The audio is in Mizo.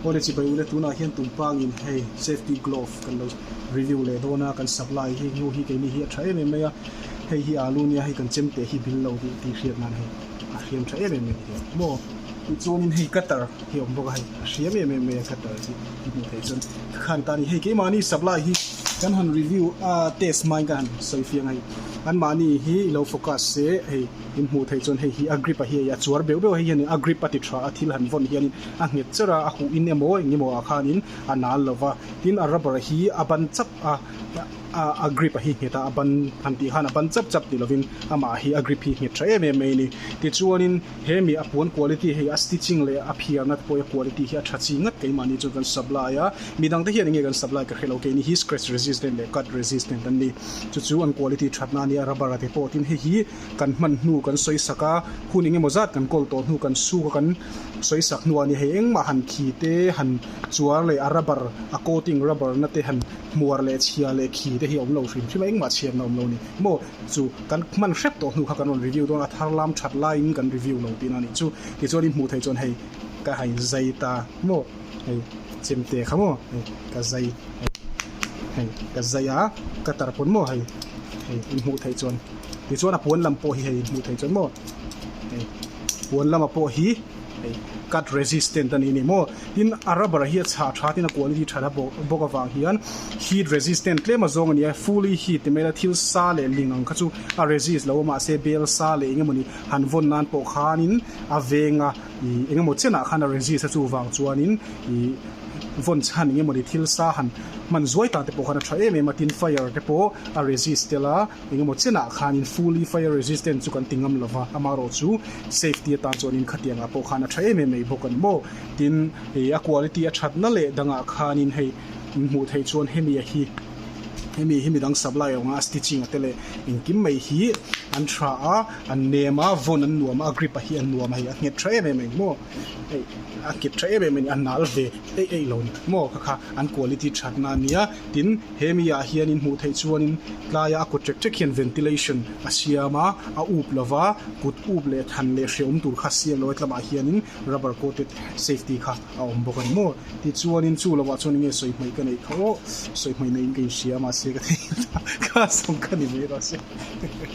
Pawne chi bai u le, tunah hian tum pangin hei safety glove kan lo review leh dawn a, kan sak lai hi hnu hi keini hi a tha em em mai a, hei hi alu nia hei kan chem teh hi bil lo tih tih hriat nan hei a hriam tha em em mai a ni a maw. Tichuanin hei cutter hi a awm bawk a hei a hriam em em mai a cutter hi i hmuh theih chuan ka khan ta a ni, hei keimahni supply hi kan han review a test hmain ka han sawi fiang a hei anmahni hi i lo focus se hei In hmuh theih chuan hei hi Agrippa hi hei a chuar beuh beuh a hei hianin Agrippa ti tha a thil han vawn hianin a nghet cher a, a huh in emaw eng emaw ah khanin a nal lo va. Tin a robber hi a ban chap a, a Agrippa hi nghet a, a ban han tih khan a ban chap chap ti lovin amah hi Agrippa hi nghet tha em em mai a ni. Tichuanin he mi a puan quality hei a stitching leh a phiar nat pawh a quality hi a tha chi ngat keimahni chuan kan supply a, midangte hian enge kan supply ka hre lo kei ni hi scratch resistant leh cut resistant an ni. Chu chu an kual i tih thatna a ni a, rubber a ti pawh. Tin, hei hi kan hman hnu kan sawisak a, hun eng emaw zat kan kawl tawh hnu kan su kha kan sawisak hnu a ni. Hei engmah han khi te, han chuar leh a rubber a coating rubber na te han hmuar leh chhia leh khi te hi a awm lo hrim hrim a, engmah chhiatna awm lo a ni. Maw chu kan hman hrep tawh hnu kha kan rawn review dawn a, a thar lam that laiin kan review lo tihna a nih chu. Tichuan i hmuh theih chuan hei ka ha inzai ta maw. hei ka chem teh kha maw hei ka zai hei ka zai a ka tar pawn maw hei hei in hmuh theih chuan tichuan a puan lam pawh hi hei in hmuh theih chuan maw hei puan lama pawh hi hei cut resistant a nih ni maw tin a rubber hi a chhah tha tin a quality tha bawk bawk avang hian heat resistant tlem a zawng a ni a fully heat ti mai la thil sa leh ling ang kha chu a resist lo a mahse bel sa leh eng emaw ni han vawn nan pawh khan in a veng a I engemaw chianah khan a resist a chuvang chuanin i vawn chhan engemawni thil sa han hman zuai ta te pawh khan a tha em em a tin fire te pawh a resist tel a engemaw chianah khanin fully fire resistant chu kan ti ngam lova amarawh chu safety atan chuan inkhatiang ah pawh khan a tha em em mai bawk a ni maw tin i a quality a thatna leh dangah khanin hei min hmuh theih chuan hemi a hi hemi hi midang supply awnga a stitching a te leh engkim mai hi an tha a. An nem a, vawn an nuam a, a grip-a hi a nuam a hei, a nghet tha em em a ni maw? Hei, a kip tha em em a ni, a nal ve eih eih lo a ni maw ka kha, an quality thatna a nia. Tin, he mi ah hian in hmuh theih chuanin tlaia a kut ṭek ṭek hian ventilation a siam a, a up lo va, kut up leh than leh hria awm tur kha a siam lo a, he tlamah hianin rubber coated safety kha a awm bawk a ni maw. Tichuanin chu lo ah chuan enge sawi hmai ka neih kha aw, sawi hmai neihin ka inhria mahse ka thei a, khasawm kha ni mai lo se.